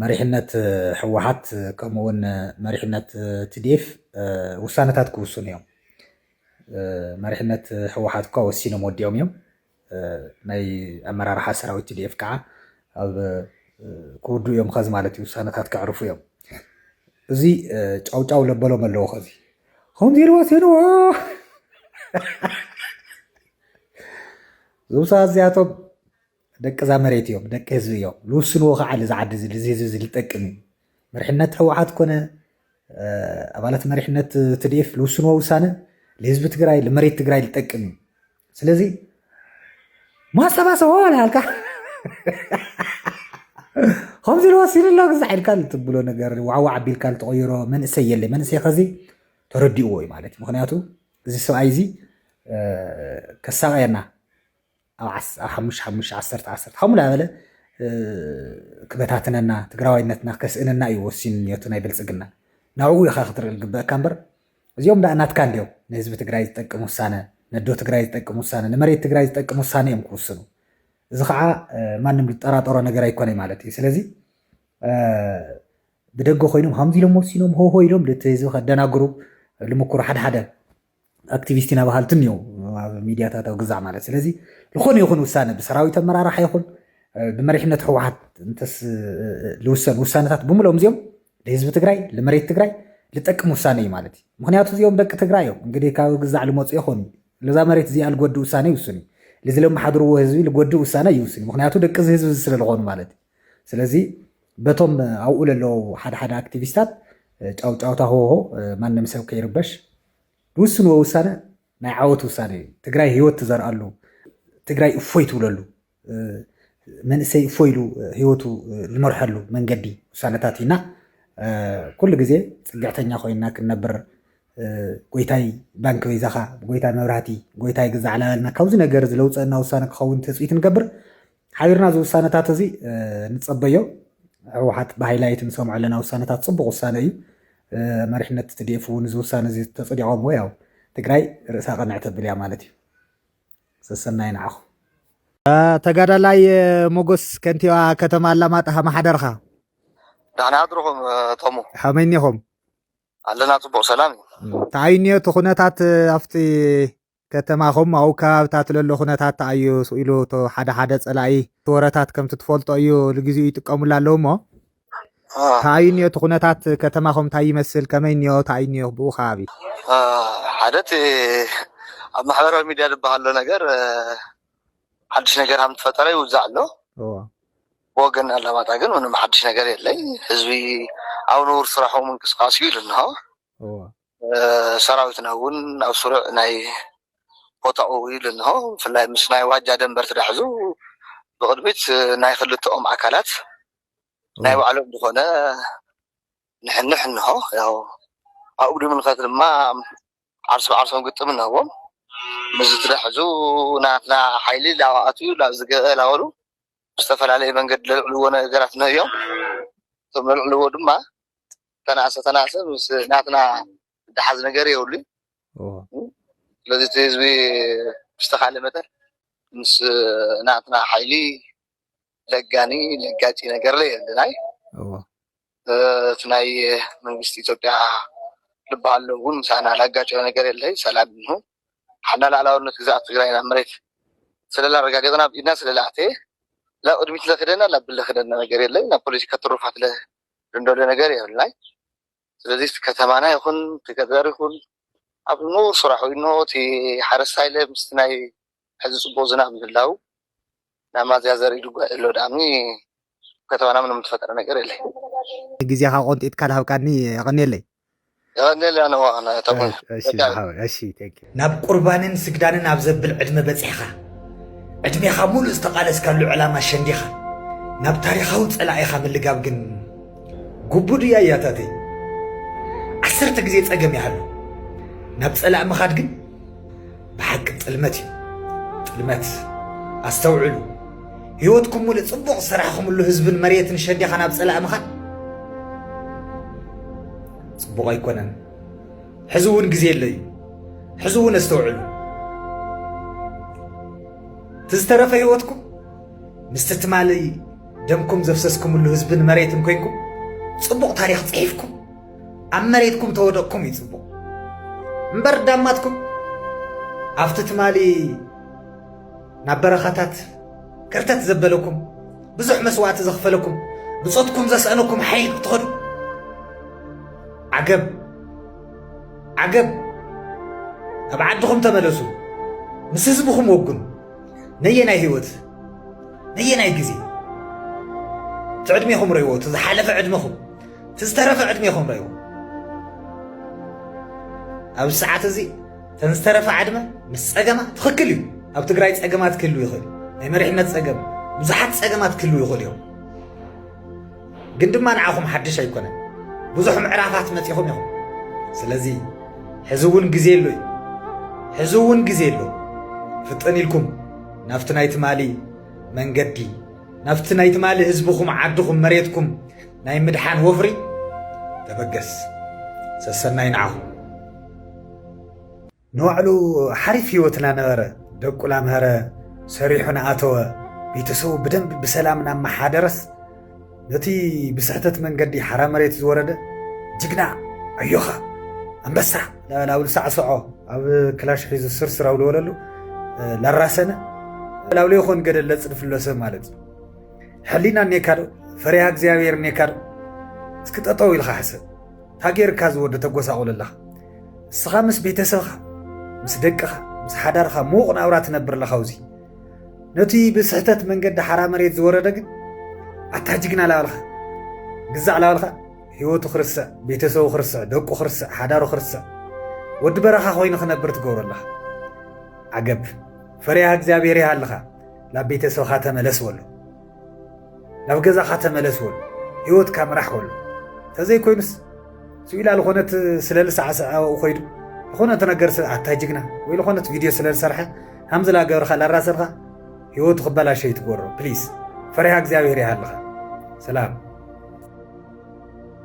መሪሕነት ህወሓት ከምኡ እውን መሪሕነት ትዲኤፍ ውሳነታት ክውስኑ እዮም መሪሕነት ህወሓት እኳ ወሲኖም ወዲኦም እዮም ናይ ኣመራርሓ ሰራዊት ትዲኤፍ ከዓ ኣብ ክውድኡ እዮም ከዚ ማለት እዩ ውሳነታት ከዕርፉ እዮም እዚ ጫውጫው ለበሎም ኣለዎ ከዚ ከምዚ ኢልዎ ሲንዎ ዝውሳ እዚኣቶም ደቂ እዛ መሬት እዮም ደቂ ህዝቢ እዮም ልውስንዎ ከዓ ልዚ ዓዲ እዚ ልዚ ህዝቢ እዚ ልጠቅም እዩ መሪሕነት ህወሓት ኮነ ኣባላት መሪሕነት ትድኤፍ ልውስንዎ ውሳነ ልህዝቢ ትግራይ ልመሬት ትግራይ ልጠቅም እዩ ስለዚ ማሰባሰቦ ልሃልካ ከምዚ ልወሲኑ ኣሎ ግዛዕ ኢልካ ልትብሎ ነገር ዋዕዋዕ ኣቢልካ ልትቐይሮ መንእሰይ የለ መንእሰይ ከዚ ተረዲእዎ እዩ ማለት ምክንያቱ እዚ ሰብኣይ እዚ ከሳቀየና ኣብ ሓሙሽ ሓሙሽ ዓሰርተ ዓሰርተ ከምኡ እናበለ ክበታትነና ትግራዋይነትና ከስእነና እዩ ወሲኑ ኒዮቱ ናይ ብልፅግና ናብኡ ኢኻ ክትርኢ ዝግበአካ እምበር እዚኦም ዳኣ ናትካ እንዲዮም ንህዝቢ ትግራይ ዝጠቅም ውሳነ ነዶ ትግራይ ዝጠቅም ውሳነ ንመሬት ትግራይ ዝጠቅም ውሳነ እዮም ክውስኑ እዚ ከዓ ማንም ዝጠራጠሮ ነገር ኣይኮነ ማለት እዩ ስለዚ ብደገ ኮይኖም ከምዚ ኢሎም ወሲኖም ሆሆ ኢሎም እቲ ህዝቢ ከደናግሩ ልምኩሩ ሓደ ሓደ ኣክቲቪስት ኢና በሃልቲ እኒኦ ኣብ ሚድያታት ኣብ ግዛዕ ማለት ስለዚ ዝኾነ ይኹን ውሳነ ብሰራዊት ኣመራርሓ ይኹን ብመሪሕነት ህወሓት እንተስ ዝውሰን ውሳነታት ብምሎም እዚኦም ንህዝቢ ትግራይ ንመሬት ትግራይ ልጠቅም ውሳነ እዩ ማለት እዩ ምክንያቱ እዚኦም ደቂ ትግራይ እዮም እንግዲህ ካብ ግዛዕ ልመፁ ይኹን ለዛ መሬት እዚኣ ልጎድእ ውሳነ ይውስን እዩ ልዚ ለመሓድርዎ ህዝቢ ልጎድእ ውሳነ ይውስን እዩ ምክንያቱ ደቂ እዚ ህዝቢ እዚ ስለዝኾኑ ማለት እዩ ስለዚ በቶም ኣብኡ ለለዉ ሓደ ሓደ ኣክቲቪስታት ጫውጫውታ ሆሆ ማንም ሰብ ከይርበሽ ዝውስንዎ ውሳነ ናይ ዓወት ውሳነ እዩ። ትግራይ ህይወት ትዘርኣሉ፣ ትግራይ እፎይ ትብለሉ፣ መንእሰይ እፎ ኢሉ ህይወቱ ዝመርሐሉ መንገዲ ውሳነታት እዩና ኩሉ ግዜ ፅግዕተኛ ኮይና ክንነብር ጎይታይ ባንኪ በይዛኻ ጎይታይ መብራህቲ ጎይታይ ግዛዕ ላበልና ካብዚ ነገር ዝለውፀና ውሳነ ክኸውን ትፅቢት ንገብር ሓቢርና እዚ ውሳነታት እዚ ንፀበዮ ህወሓት ብሃይላይት ንሰምዖ ኣለና ውሳነታት ፅቡቅ ውሳነ እዩ መሪሕነት ትድኤፍ እውን እዚ ውሳነ እዚ ተፅዲቆምዎ ያው ትግራይ ርእሳ ቀንዕ ተብል እያ ማለት እዩ ሰሰናይ ንዓኹ ተጋዳላይ ሞጎስ ከንቲባ ከተማ ኣላማጣ ማሓደርኻ ዳሕና ኣድርኹም ተሙ ከመይ እኒኹም ኣለና ፅቡቅ ሰላም እዩ እንታይ እኒኦ እቲ ኩነታት ኣብቲ ከተማኹም ኣብኡ ከባብታት ለሎ ኩነታት ተኣዩ ኢሉ እቶ ሓደ ሓደ ጸላኢ እቲ ወረታት ከምቲ ትፈልጦ እዩ ልግዜኡ ይጥቀሙሉ ኣለዉ እሞ ተኣዩ እኒኦ እቲ ኩነታት ከተማኹም እንታይ ይመስል ከመይ እኒኦ ተኣዩ እኒኦ ብኡ ከባቢ ሓደ እቲ ኣብ ማሕበራዊ ሚድያ ዝበሃል ሎ ነገር ሓድሽ ነገር ሃም ተፈጠረ ይውዛዕ ኣሎ ብወገን ኣላማጣ ግን ምንም ሓድሽ ነገር የለይ ህዝቢ ኣብ ንቡር ስራሑ ምንቅስቃስ እዩ ኢሉ እንሆ ሰራዊትና እውን ኣብ ስሩዕ ናይ ቦታኡ ኢሉ እንሆ ብፍላይ ምስ ናይ ዋጃ ደንበ እንድሕር ሒዙ ብቕድሚት ናይ ክልተኦም ኣካላት ናይ ባዕሎም ዝኾነ ንሕንሕ እንሆ ያው ኣብኡ ድምልከት ድማ ዓርሲ ብዓርሶም ግጥም እንህዎም ምስዚ ትደሕዙ ናትና ሓይሊ ላባኣቱ ላብዚ ገበ ላበሉ ብዝተፈላለየ መንገዲ ዘልዕልዎ ነገራት እንሆ እዮም። እቶም ዘልዕልዎ ድማ ተናእሰ ተናእሰ ምስ ናትና ዝሓዝ ነገር የብሉን። ስለዚ እቲ ህዝቢ ብዝተኻለ መጠን ምስ ናትና ሓይሊ ለጋኒ ለጋጪ ነገር ለየልናይ እቲ ናይ መንግስቲ ኢትዮጵያ ልበሃል ሎሚ እውን ምሳና ላጋጨወ ነገር የለ ሰላም ይንሁ ሓና ላዕላውነት ግዛኣት ትግራይ ናብ መሬት ስለላ ኣረጋገጥና ኣብ ኢድና ስለላ ኣተየ ላብ ቅድሚት ለክደና ላብ ብለክደና ነገር የለ ናብ ፖለቲካ ትሩፋት ለንደሎ ነገር የብልናይ ስለዚ እቲ ከተማና ይኹን እቲ ገጠር ይኹን ኣብ ንቡር ስራሑ እንሆ እቲ ሓረስታይለ ምስቲ ናይ ሕዚ ፅቡቕ ዝናብ ምህላው ናብ ማዝያ ዘርኢ ድጓ የሎ ድኣሚ ኣብ ከተማና ምንም እተፈጠረ ነገር የለይ። ግዜኻ ቆንጢጥካ ድሃብካኒ የቐንየለይ። የቐንየለይ ኣነ እወ ኣነ እታ ጓል እሺ እሺ ዝሓወይ እሺ thank you። ናብ ቁርባንን ስግዳንን ኣብ ዘብል ዕድመ በጺሕካ፣ ዕድሜኻ ሙሉእ ዝተቓለስካሉ ዕላማ ሸንዲኻ፣ ናብ ታሪኻዊ ጸላኢኻ ምልጋብ ግን፣ ግቡእ ድዩ ኣያታተይ? ዓሰርተ ግዜ ጸገም ይሃሉ፣ ናብ ጸላእ ምኻድ ግን ብሓቂ ጥልመት እዩ። ጥልመት ኣስተውዕሉ። ህይወትኩም ሙሉእ ጽቡቕ ዝሰራሕኹምሉ ህዝብን መሬትን ሸዲኻ ናብ ጸላእ ምኻድ ጽቡቕ ኣይኮነን። ሕዚ እውን ግዜ ኣሎ እዩ። ሕዚ እውን ኣስተውዕሉ። እቲ ዝተረፈ ህይወትኩም ምስቲ ትማሊ ደምኩም ዘፍሰስኩምሉ ህዝብን መሬትን ኮይንኩም ጽቡቕ ታሪኽ ጽሒፍኩም ኣብ መሬትኩም ተወደቕኩም እዩ ጽቡቕ እምበር ዳማትኩም ኣብቲ ትማሊ ናብ በረኻታት ከርተት ዘበለኩም ብዙሕ መስዋእቲ ዘኽፈለኩም ብጾትኩም ዘስአነኩም ሓይል ክትኸዱ ዓገብ ዓገብ ኣብ ዓድኹም ተመለሱ ምስ ህዝብኹም ወግኑ ነየናይ ህይወት ነየናይ ግዜ እቲ ዕድሜኹም ረይዎ እቲ ዝሓለፈ ዕድሜኹም እቲ ዝተረፈ ዕድሜኹም ረይዎ ኣብዚ ሰዓት እዚ እተን ዝተረፈ ዓድመ ምስ ፀገማ ትኽክል እዩ ኣብ ትግራይ ፀገማት ክህልው ይኽእል ናይ መሪሕነት ፀገም ብዙሓት ፀገማት ክህልው ይኽእል እዮም ግን ድማ ንዓኹም ሓድሽ ኣይኮነን ብዙሕ ምዕራፋት መጺኹም ኢኹም ስለዚ ሕዚ እውን ግዜ ኣሎ እዩ ሕዚ እውን ግዜ ኣሎ ፍጥን ኢልኩም ናብቲ ናይ ትማሊ መንገዲ ናብቲ ናይ ትማሊ ህዝብኹም ዓድኹም መሬትኩም ናይ ምድሓን ወፍሪ ተበገስ ሰሰናይ ንዓኹም ንባዕሉ ሓሪፍ ህይወት እናነበረ ደቁ ላምሀረ ሰሪሑ ንኣተወ ቤተሰቡ ብደንቢ ብሰላም እናመሓደረስ ነቲ ብስሕተት መንገዲ ሓራ መሬት ዝወረደ ጅግና ኣዮኻ ኣንበሳ ላብሉ ሳዕስዖ ኣብ ክላሽ ሒዙ ስርስር ኣውለወለሉ ላራሰነ ላብሎ ይኾን ገደል ለፅድፍሎ ሰብ ማለት እዩ ሕሊና እኔካ ዶ ፈሪሃ እግዚኣብሔር እኔካ ዶ እስኪ ጠጠው ኢልካ ሕሰብ ታጌርካ ዝወደ ተጎሳቑል ኣለኻ ንስኻ ምስ ቤተሰብኻ ምስ ደቅኻ ምስ ሓዳርኻ ምዉቕ ናብራ ትነብር ኣለኻ ውዚ ነቲ ብስሕተት መንገዲ ሓራ መሬት ዝወረደ ግን ኣታ ጅግና ላበልካ ግዛዕ ላበልካ ህይወቱ ክርስዕ ቤተሰቡ ክርስዕ ደቁ ክርስዕ ሓዳሩ ክርስዕ ወዲ በረኻ ኮይኑ ክነብር ትገብሮ ኣለኻ ዓገብ ፈሪያ እግዚኣብሔር ይሃልኻ ናብ ቤተሰብኻ ተመለስ በሎ ናብ ገዛኻ ተመለስ ወሉ ህይወትካ ምራሕ ወሉ ተዘይ ኮይኑስ ስኢላ ዝኾነት ስለ ልሳዕስዕ ኣብኡ ኮይዱ ዝኾነት ነገር ኣታ ጅግና ወይ ዝኾነት ቪድዮ ስለ ዝሰርሐ ከምዚ ላገብርካ ላራሰርካ ህይወቱ ክበላሸ ይትጎሮ ፕሊስ ፈሪሃ እግዚኣብሔር ይሃልኻ ሰላም